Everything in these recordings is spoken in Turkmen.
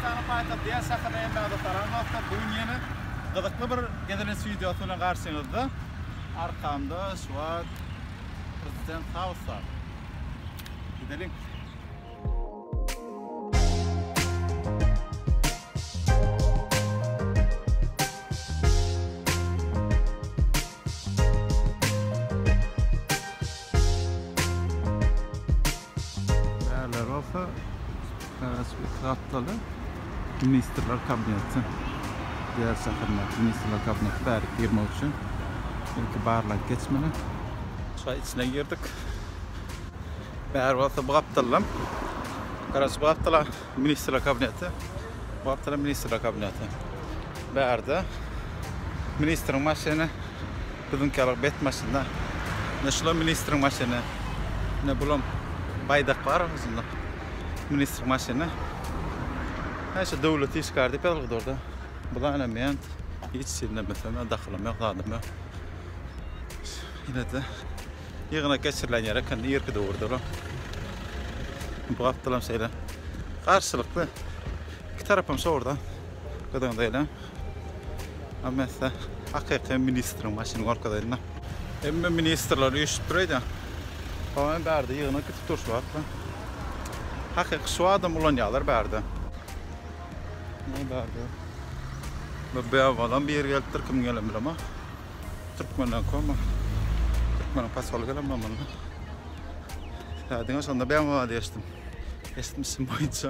Hindistanyň paýtagty ýer şahyryna gelmäge salam dostlar. Bu gün ýene gyzykly bir gezelenç wideosy bilen garşyňyzda. Arkamda şu wagt prezident Hausa. Gideliň. Ärler bolsa bäsbit gapdaly Ministrler kabineti diýer şäherinde Ministrler kabineti bärik girmek üçin ilki barlag geçmeli. Şa içine girdik. Bäri bolsa bu gapdaldan. Garaşy bu gapdala Ministrler kabineti. Bu gapdala Ministrler kabineti. Bärde ministriň maşyny Biziňki ýaly bet maşynda. Ine şulam ministriň maşyny. Ine bulam baýdak bar özünde. Ministriň maşyny. Hä şu döwlet işgär diýip ýazylgydyrda. Bula ene men hiç ýerinde bilsem ýa dahylym ýok zadym ýok. Ýene-de ýygnak geçirilen ýer ekeni irki döwürde olam. Bu gapdalam şeýle garşylykly. Iki tarapam şowurdan gyzygyna eýle. Amessa hakyky ministriň maşyny gorkazaýdym-da. Hemme ministrler üýşüp dur aýdýan. Soň bärde ýygnak gitip dur şu wagtda. Hakyky şu adam ulanýarlar bärde. Ne bärde? Bu beawalam bir ýeri gelipdir, kim gelen bilemok. Türkmenden koma. Türkmeniň pasoly gelen bilen boldy. Hädiňe şonda beawa diýişdim. Eşitmişim boýunça.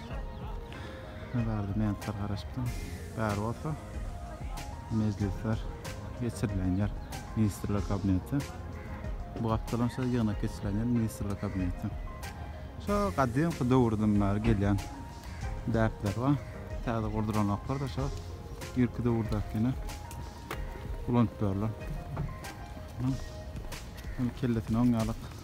Ne bardy mentler garaşypdym. Bär bolsa mejlisler geçirilen yer ministrler kabineti. Bu gapdalam şo ýygnak geçirilen yer ministrler kabineti. Şo gadymky döwürden bäri gelýän däpler bar. Täze gurdulanoklar da şo irki döwürdäkini ulanyp ýörler. Ol kellesini oňýarlyk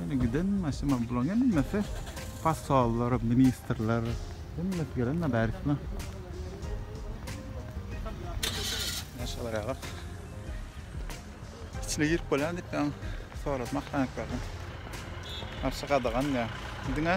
Ýöne giden maşyn bularyň hemmesi possollar, ministrler, hemmesi gelende bärisine. Maşallah ýa bak. İçine girip bolýan diýip ben soradım ahranniklerden. Garşy gadagan diýýär. Diňe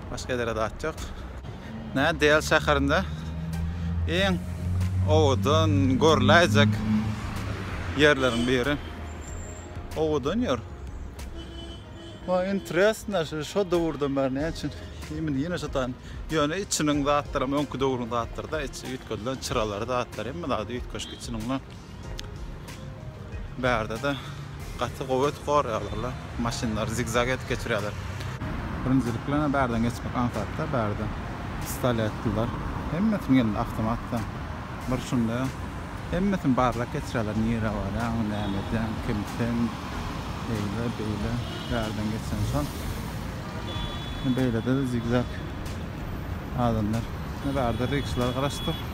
Başga ýere zat ýok. Näme Dell şäherinde iň owadan görläýjek ýerleriň biri. Owadan ýer. Maňa interesno şu şu döwürden bäri näme üçin indi ýene şu tan ýöne içiniň zatlaram öňki döwrüň zatlaryda içi üýtgedilen çyralary zatlary hemme zady üýtgeşik içiniň bilen. Bärde-de gaty gowy ötüp gorýarlar-la. Maşynlary zigzag edip geçirýärler. Birinjilik bilen-ä bärden geçmek aňsat-da, bärde stali atdylar. Hemmesiniň elinde awtomat-da. Bir şunda hemmesini barlap geçirýärler, nirä barýaň, näme edýäň, kim sen, eýle, beýle, bärden geçen şol. Beýlede-de zigzag adamlar. Ine, bärde rikşalar garaşypdyr.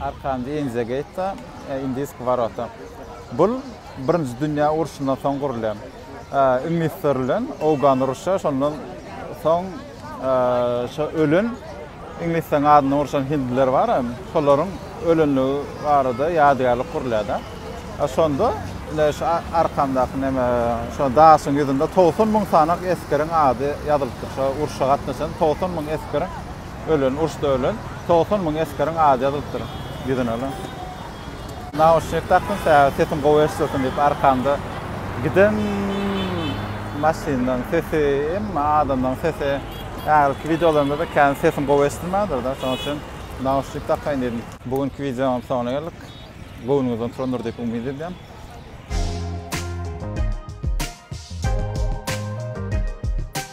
Arkanji Inze Geýta, Indisk Warota. Bul Birinji Dünýä urşundan soň gurulýan. Iňlisler bilen Owgan uruşa şondan soň şo ölen Iňlisleriň adyndan urşan Hindliler bar hem şolaryň ölenligi barada ýadygärlik gurulýada. Şonda ine şu arkamdaky neme şo daşyň ýüzünde togsan müň sanak eskeriň ady ýazylypdyr. Şo urşa gatnaşan togsan müň eskeriň Ölen, urşda ölen togsan müň esgeriň ady ýazylypdyr ýüzüne lan. Nauşnik dakdym sähel sesim gowy eşdilsin diýip arkamda giden maşyndan sesi emma adamlaň sesi ägilki wideolarymda-da kän sesim gowy eşdilmändir-de şonuň üçin nauşnik dakaýyn diýdim. Bu günki wideonyň soňuna geldik. Göwnüňizden turandyr diýip umyt edýän.